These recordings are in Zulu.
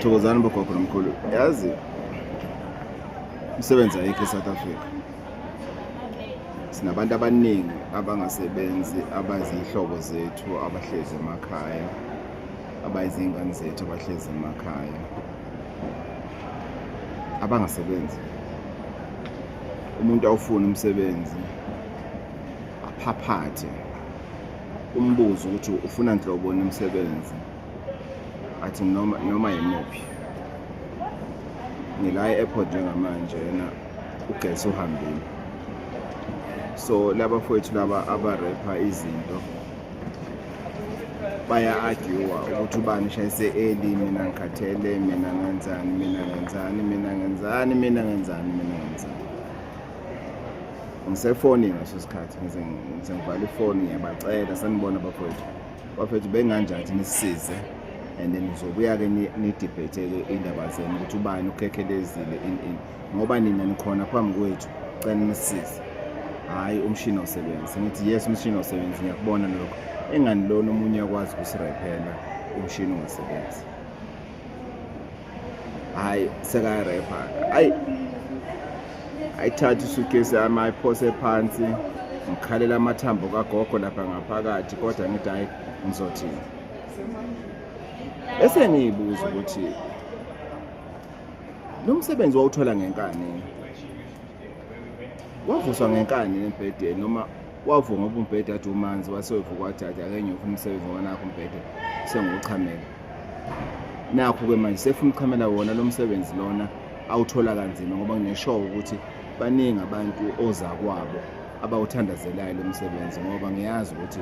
thokozani bogogo nomkhulu yazi umsebenzi ayikho e-south africa sinabantu abaningi abangasebenzi abaziyihlobo zethu abahlezi emakhaya abayizingane zethu abahlezi emakhaya abangasebenzi umuntu awufuna umsebenzi aphaphathe umbuzo ukuthi ufuna nhlobo nomsebenzi athi noma noma yimuphi ngila e-airport njengamanje yena ugesi uhambile so laba fowethu laba abarepha izinto baya-agiwa ukuthi ubani shayise eli mina ngikhathele mina ngenzani mina ngenzani mina ngenzani mina ngenzani mina ngenzani ngisefonini ngaso sikhathi ngize ngize ngivale ifoni ngiyabacela sanibona bafowethu bafowethu benganjani ukuthi nisisize and then nizobuya-ke nidibhetheke iy'ndaba zenu ukuthi ubani ukhekhelezile in in ngoba nina nikhona phambi kwethu cela nisisize hhayi umshini awusebenzi ngithi yes umshini awusebenzi ngiyakubona lokho engani lona omunye akwazi ukusirayphela umshini ungasebenzi hayi sekayarepa hayi ayithatha isugesi yami ayiphose phansi ngikhalela amathambo kagogo lapha ngaphakathi kodwa ngithi hayi ngizothini bese ngiyibuza ukuthi lo msebenzi wawuthola ngenkani wavuswa ngenkani embhedeni noma wavuma ngoba umbhede athi umanzi wasewevuka wathi athi ake ngiyofa umsebenzi ngoba nakho umbhede sengiwuchamela nakho-ke manje sefuna uchamela wona lo msebenzi lona awuthola kanzima ngoba ngineshow ukuthi baningi abantu ozakwabo abawuthandazelayo lo msebenzi ngoba ngiyazi ukuthi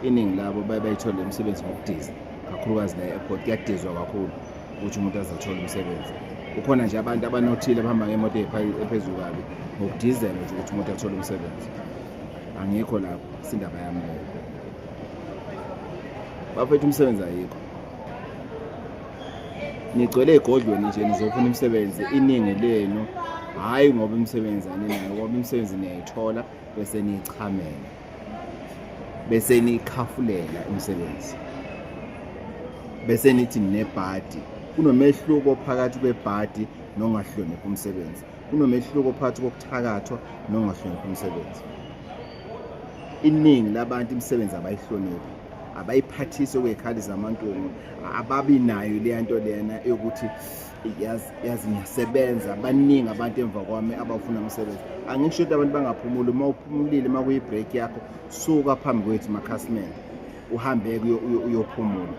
iningi labo baye bayithole le msebenzi ngokudiza kakhulukazi la e-airport kuyadizwa kakhulu ukuthi umuntu azathola umsebenzi kukhona nje abantu abanothile abahamba ngemoto ephezulu kabi ngokudizela nje ukuthi umuntu athole umsebenzi angikho lapho sindaba yami leyo bafethu umsebenzi ayikho nigcwele ey'godlweni nje nizofuna imisebenzi iningi lenu hhayi ngoba imisebenzi aninayo ngoba imisebenzi niyayithola bese niyichamela bese nikhafulela umsebenzi bese nithi nebhadi kunomehluko phakathi kwebhadi nongahloniphi umsebenzi kunomehluko phakathi kokuthakathwa nongahloniphi umsebenzi iningi labantu imisebenzi abayihloniphi abayiphathise kwey'khali zamantungu ababi nayo leya nto lena yokuthi yazi yazi ngiyasebenza baningi abantu emva kwami abafuna umsebenzi angisho ukuthi abantu bangaphumuli uma uphumulile uma kuyi-break yakho suka phambi kwethu makhasimende uhambe-ke uyophumula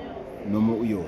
noma uyodla